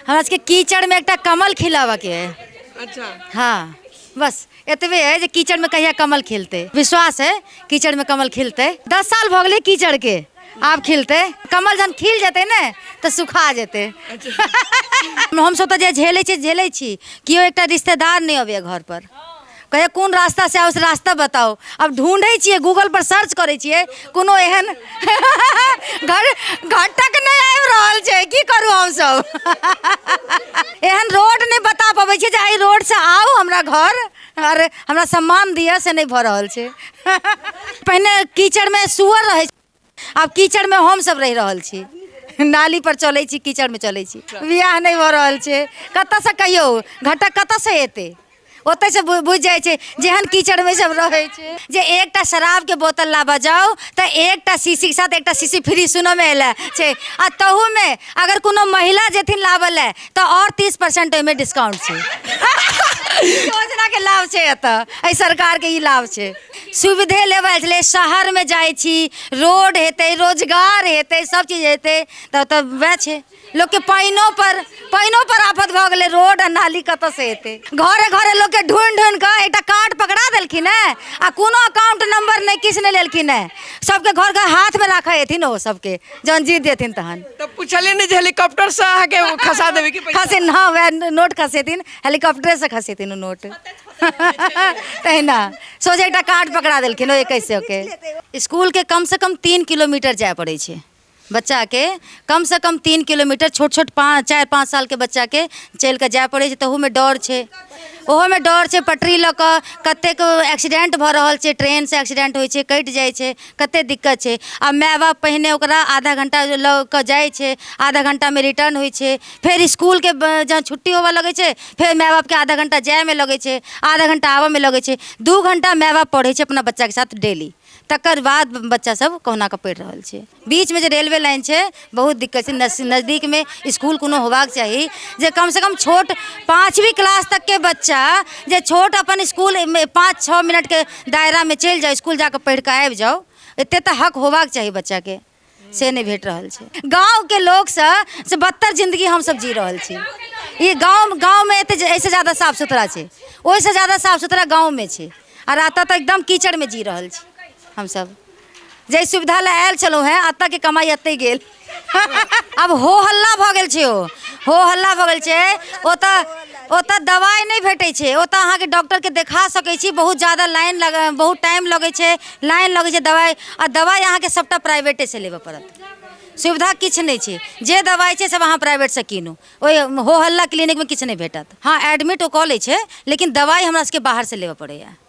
हमरा सबके कीचड़ में एकटा कमल खिलावा के है अच्छा हाँ बस एतबे है जे कीचड़ में कहिया कमल खिलते विश्वास है कीचड़ में कमल खिलते दस साल भऽ गेलै कीचड़ के आब खिलते कमल जहन खिल जेतै ने तऽ सुखा जेतै हमसभ तऽ जे झेलै छी झेलै छी केओ एकटा रिश्तेदार नहि अबैया घर पर कहिया कोन रास्ता से आओ से रास्ता बताओ अब ढूंढे छिए गूगल पर सर्च करे छिए कोनो एहन घर घटक नहीं आबि रहल छै की करू हम सब एहन रोड नहीं बता पाबै छिए जे एहि रोड से आओ हमरा घर और हमरा सम्मान दिया से नहीं भऽ रहल छै पहिने कीचड़ में सुअर रहै आब कीचड़मे हमसभ रहि रहल छी नाली पर चलै छी कीचड़मे चलै छी बियाह नहि भऽ रहल छै कतऽसँ कहियौ घटक कतऽसँ एतै ओतऽसँ बु- बुझि जाइ छै जेहन कीचड़मे सब रहै छै जे एकटा शराबके बोतल लाबऽ जाउ तऽ एकटा शीशीके साथ एकटा शीशी फ्री सुनऽमे एलै छै आ तहूमे अगर कोनो महिला जेथिन लाबऽ लए तऽ आओर तीस परसेंट ओहिमे डिस्काउंट छै योजना के लाभ छै एतऽ एहि सरकार के ई लाभ छै सुविधे लेबऽ छलै शहर मे जाइ छी रोड हेतै रोजगार हेतै सब चीज हेतै तऽ तऽ वएह छै लोक के पानिओ पर पानिओ पर आफत भऽ गेलै रोड आ नाली कतऽ से हेतै घरे घरे लोक के ढूंढ ढूंढ कऽ एकटा कार्ड पकड़ा देलखिन है आ कोनो अकाउंट नंबर नहि किछु नहि लेलखिन है सबके घर घर हाथ मे राखै हेथिन ओ सबके जहन जीत जेथिन तहन तऽ पूछलियै ने जे हेलीकॉप्टरसँ अहाँके ओ खसा देबै कि पैसा खसेन हँ वएह नोट खसेथिन हेलीकॉप्टरेसँ खसेथिन ओ नोट तहिना सोझे एकटा कार्ड पकड़ा देलखिन ओ एकैस सएके इसकुलके कमसँ कम तीन किलोमीटर जाय पड़ै छै बच्चाके कमसँ कम तीन किलोमीटर छोट छोट पाँच चारि पाँच सालके बच्चाके चलि कऽ जाय पड़ै छै तहूमे डर छै ओहोमे डर छै पटरी लऽ कऽ कतेक एक्सीडेंट भऽ रहल छै ट्रेनसँ एक्सीडेंट होइ छै कटि जाइ छै कतेक दिक्कत छै आ माय बाप पहिने ओकरा आधा घण्टा लऽ कऽ जाइत छै आधा घण्टामे रिटर्न होइत छै फेर इसकुलके जहन छुट्टी होबऽ लगैत छै फेर माय बापके आधा घण्टा जाइमे लगैत छै आधा घण्टा आबऽमे लगैत छै दू घण्टा माय बाप पढ़ैत छै अपना बच्चाके साथ डेली तकर बाद बच्चा सब कहुनाके पढ़ि रहल छै बीचमे जे रेलवे लाइन छै बहुत दिक्कत छै नस- नजदीक में स्कूल कोनो होबाक चाही जे कम से कम छोट पाँचवीं क्लास तक के बच्चा जे छोट अपन स्कूल में पाँच छः मिनट के दायरा में चलि जाओ स्कूल जाके पढ़ि के आबि जाओ एते तऽ हक होबाक चाही बच्चा के से नहि भेट रहल छै गाँव के लोग से से बदतर जिंदगी हम सब जी रहल छी ई गाँव गाँव में एते ऐसे ज्यादा साफ सुथरा छै ओहिसँ ज्यादा साफ सुथरा गाँव में छै आ राता तऽ एकदम कीचड़ में जी रहल छी हम सब जे सुविधा लए आयल छलहुँ हेँ एतऽ के कमाई एतै गेल आब हो हल्ला भऽ गेल छै ओ हो हल्ला भऽ गेल छै ओतऽ ओतऽ दवाइ नहि भेटै छै ओतऽ अहाँके डॉक्टरके देखा सकै छी बहुत जादा लाइन लग बहुत टाइम लगै छै लाइन लगै छै दवाइ आ दवाइ अहाँके सभटा प्राइवेटेसँ लेबऽ पड़त सुविधा किछु नहि छै जे दवाइ छै सभ अहाँ प्राइवेटसँ कीनू ओहि हो हल्ला क्लिनिकमे किछु नहि भेटत हँ एडमिट ओ कऽ लै छै लेकिन दवाइ हमरा सभके बाहरसँ लेबऽ पड़ैए